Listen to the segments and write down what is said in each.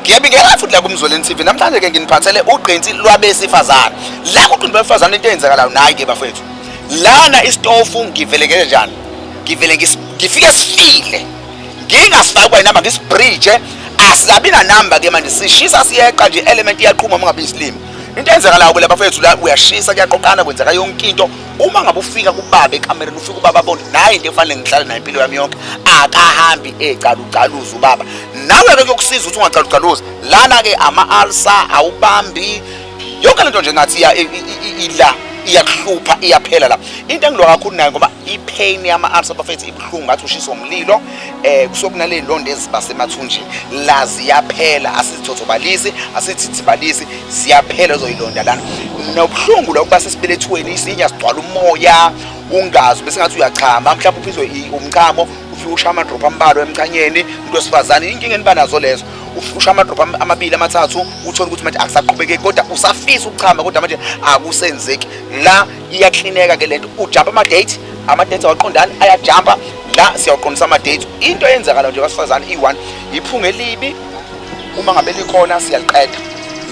ngiyabingelela futhi la kumzweleni TV namhlanje ke nginiphathele ugqinsi lwabesifazane la kuthi besifazane into eyenzakalayo nayi ke bafethu lana istofu ngivele ngeke njani ngivele ngifike sifile ngingasifaki kwa inamba ngisibridge asilabi na number ke manje sishisa siyeqa nje element iyaqhuma ungabi isilimi into eyenzakalayo ke la bafethu la uyashisa kuyaqoqana kwenzeka yonke into uma ngabe ufika kubaba ekamereni ufika ubaba abone naye into efanele ngihlale naye impilo yami yonke akahambi egcalugcaluza ubaba nawe-ke kuyokusiza ukuthi ungagcalugcaluzi lana-ke ama-alsa awubambi yonke le nto nje ngathi ila iyakuhlupha iyaphela la into engilwa kakhulu nayo ngoba ipain yama-arts abafethu ibuhlungu ngathi ushiswa umlilo um eh, kusokunaley'ndondo ezibasemathunjini la ziyaphela asizithotobalisi asizithibalisi siyaphela uzoyilonda lana nobuhlungu lokuba sesibelethweni isinya sigcwala umoya ungazi bese ngathi uyachama mhlawumbe uphizwe umchamo ufike usha amadrop ambalwa emchanyeni into esifazane inkinga eniba nazo lezo ufike usha amadrop amabili amathathu uthole ukuthi manje akusaqhubekeki kodwa usafisa ukuchama kodwa manje akusenzeki la iyaklineka ke lento ujump ama date ama date awaqondani ayajumpa la siyawaqondisa ama date into eyenzakala nje basifazane i1 iphunga elibi uma ngabe likhona siyaliqeda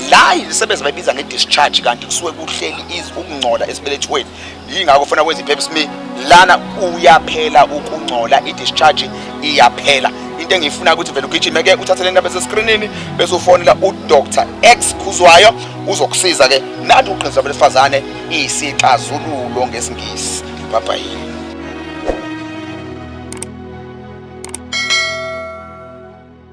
la izisebenzi bayibiza nge-discharge kanti kusuke kuhleli ukungcola esibelethweni yingakho funa kwenza i-pap smear lana uyaphela ukungcola i-discharge iyaphela into engiyifuna ukuthi vele ugijime-ke uthathe le ndaba eseskrinini bese ufonela udr x khuzwayo uzokusiza-ke nathi uqinisa besifazane isixazululo ngesingisi babhayini